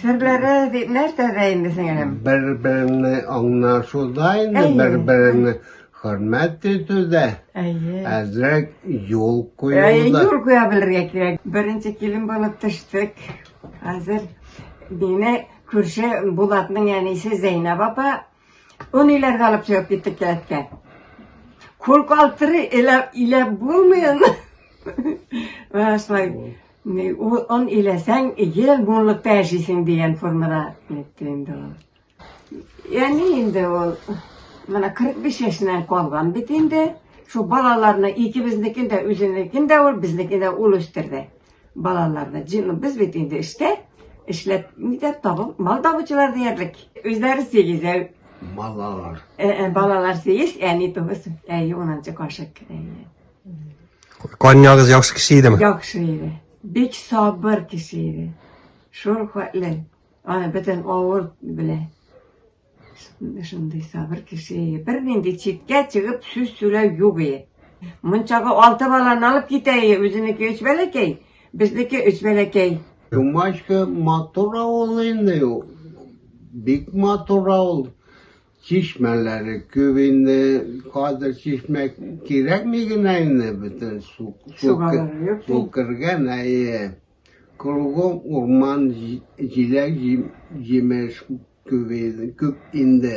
Серләре дип нәрсәдә инде сеңелем? Бер-берне аңлашуда инде, бер-берне хөрмәт итүдә. Әйе. Әзрәк юл куюда. Әйе, юл куя белергә кирәк. Беренче килен булып төштек. Хәзер мине күрше Булатның әнисе Зәйнәб апа Оны иләргә алып чыгып киттек кәләткә. Курку алтыры иләп, иләп булмыйын. Шулай, он иләсәң, ел муллыкта яшисең дигән формада әйтте инде ул. Яни инде ул, менә 45 яшеннән калган бит инде. Шул балаларны икебезнекен дә, үзенекен дә ул, безнекен дә ул үстерде. Балаларны, җыйны, без бит инде эштә, эшләп, нидә табып, мал табучылар диярлек. Үзләре сигез, ә, Малалар. ә, ә, балалар сигез, әни тугыз, ә, унынчы кашык. Ә, Конягыз яхшы кеше идеме? Яхшы иде. Бик сабыр кеше иде. Шул хәтле. Аны бөтен авыл белә. Шундый, шундый сабыр кеше. Бер нинди читкә чыгып сүз сүләү юк ие. Мунчага алты баланы алып китә ие. Үзенеке өч бәләкәй, безнеке өч бәләкәй. Думачка матур авыл инде. Бик матур авыл. Чишмәләре күп инде. Хәзер чишмә кирәкми генә инде бөтен су. Су кергән, әйе. Кругом урман, җиләк-җимеш күп инде.